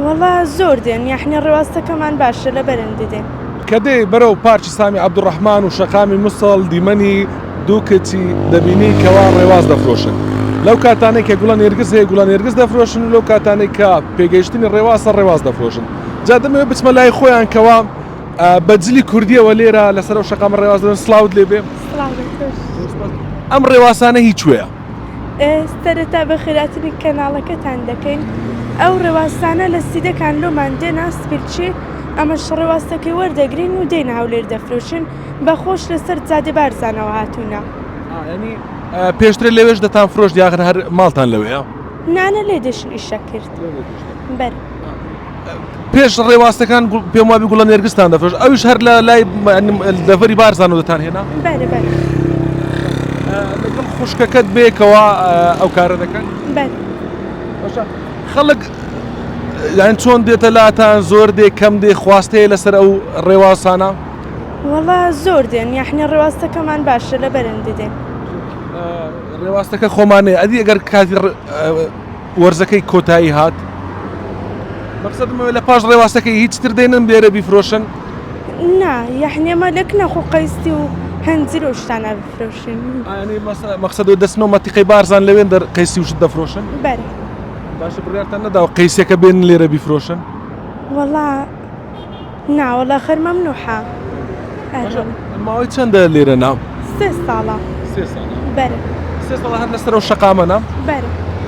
وەڵا زۆر دێن یەحنی ڕێواستەکەمان باشە لە بەرندی دێن. کە دێی بەرەو پارکی سامی عەبدولڕەحمان و شەقامی موسڵ دیمەنی دوو کچی دەبینی کەوا ڕێواس دەفرۆشن لەو کاتانەی کە گوڵە نێرگز هەیە گوڵە نێرگز دەفرۆشن و لەو کاتانەی کە پێگەیشتنی ڕێواسە ڕێواس دەفرۆشن جا دەمەوێ بچمە لای خۆیان کەوا بە جلی کوردیەوە لێرە لەسەر ئەو شەقامە ڕێواس دەن سڵاوت لێبێ سڵاو لە تۆش. ئەم ڕێواسانە هی کوێە؟ سەرەتا بە خێراتری کەناڵەکەتان دەکەین ئەو ڕێواسانە لە سیدەکان لۆمان دێنا سپیلچی ئەمە شڕێواستەکەی وەردەگرین و دێن هەولێر دەفرۆشن بە خۆش لەسەر زادێ بارزانەوە هاتوونە پێشتر لەوێش دەتان فرۆش دیاخر هەر ماڵتان لەوەیە نانە لێ دەشن ئیشە کرد بەر. پێش ڕێواستەکان پێم وابی گوڵە نێرگستان دەفرۆش ئەوش هەر لە لای دەڤەری بارزان و دەتان هێنا خوشکەکەت بێکەوە ئەو کارە دەکەن خەڵک یان چۆن دێتە لاتان زۆر دێ کەم دێ خواستەیە لەسەر ئەو ڕێواسانە وڵا زۆر دێن یاحنی ڕێواستەکەمان باشە لە بەرەندی دێن ڕێواستەکە خۆمانەیە ئەدی ئەگەر کاتی وەرزەکەی کۆتایی هات مەقسەدم ئەوەیە لە پاش ڕێواستەکەی هیچ تر دێنن لێرە بیفرۆشن؟ نا یەحنی ئەمە لە کناخ و قەیستی و هەنجیر و شتانە بفرۆشین ئەیانی مەسە مەقسەد و دەچنەوە مەتیقەی بارزان لەوێن دەر قەیسی و شت دەفرۆشن؟ بەرێ باشە بڕیارتان نەداوە قەیسییەکە بێنن لێرە بیفرۆشن؟ وەڵا نا وەڵا خەر مەمنوحە باشە ئەرێ ماوەی چەندە لێرە نام؟ سێ ساڵە سێ ساڵە بەرێ سێ ساڵە هەر لەسەر ئەو شەقامە نام؟ بەرێ.